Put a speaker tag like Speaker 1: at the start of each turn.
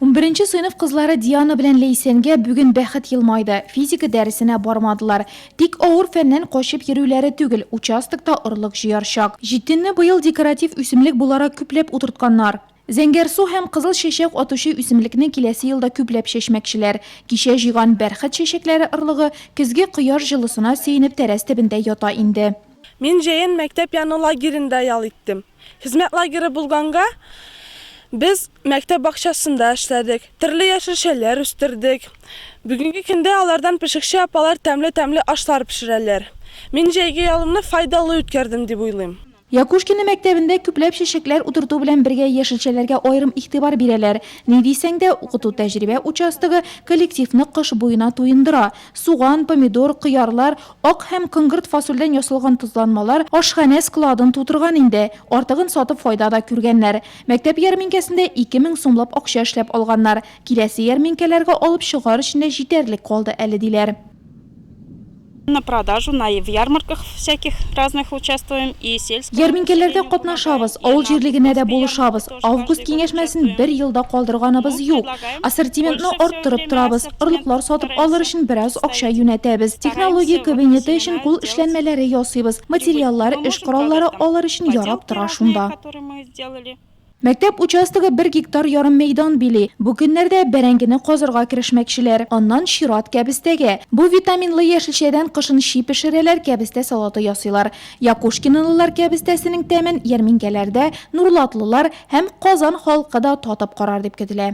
Speaker 1: Унберенче сыйныф кызлары Диана белән Ләйсәнгә бүген бәхет елмайды, физика дәресенә бармадылар. Тик авыр фәннән качып йөрүләре түгел, участокта орлык җыяр чак. Җитенне быел декоратив үсемлек буларак күпләп утыртканнар. Зәңгәр су һәм кызыл чәчәк атучы үсемлекне киләсе елда күпләп чәчмәкчеләр. Кичә җыйган бәрхет чәчәкләре орлыгы көзге кояш җылысына сөенеп тәрәз төбендә ята инде. Мин җәен
Speaker 2: мәктәп яны лагеренда ял иттем. Хезмәт лагеры булганга, без мәктәп бакчасында эшләдек, төрле яшелчәләр үстердек. Бүгенге көндә алардан пешекче апалар тәмле-тәмле ашлар пешерәләр. Мин җәйге ялымны файдалы үткәрдем дип уйлыйм. Якушкино мәктәбендә
Speaker 1: күпләп чәчәкләр утырту белән бергә яшелчәләргә аерым игътибар бирәләр. Ни дисәң дә, укыту-тәҗрибә участогы коллективны кыш буена туендыра. Суган, помидор, кыярлар, Ак һәм коңгырт фасольдән ясалган тозланмалар ашханә складын тутырган инде. Артыгын сатып файда да күргәннәр. Мәктәп ярминкәсендә ике мең сумлап акча эшләп алганнар. Киләсе ярминкәләргә алып чыгар өчен дә җитәрлек калды әле, диләр.
Speaker 3: На продажу на в ярмарках всяких разных участвуем и сельскому населению помогаем. Ярминкәләрдә катнашабыз,
Speaker 1: авыл җирлегенә дә булышабыз, Август киңәшмәсен бер ел да калдырганыбыз юк. Ассортиментны арттырып торабыз, орлыклар сатып алыр өчен бераз акча юнәтәбез. Технология кабинеты өчен кул эшләнмәләре ясыйбыз, материаллар, эш кораллары алыр өчен ярап тора шунда. Мәктәп участогы бер гектар ярым мәйдан били. Бу көннәрдә бәрәңгене казырга керешмәкчеләр. Аннан чират, кәбестәгә. Бу витаминлы яшелчәдән кышын чи пешерәләр, кәбестә салаты ясыйлар. Якушкинлылар кәбестәсенең тәмен ярминкәләрдә нурлатлылар һәм Казан халкы да татып карар дип көтелә.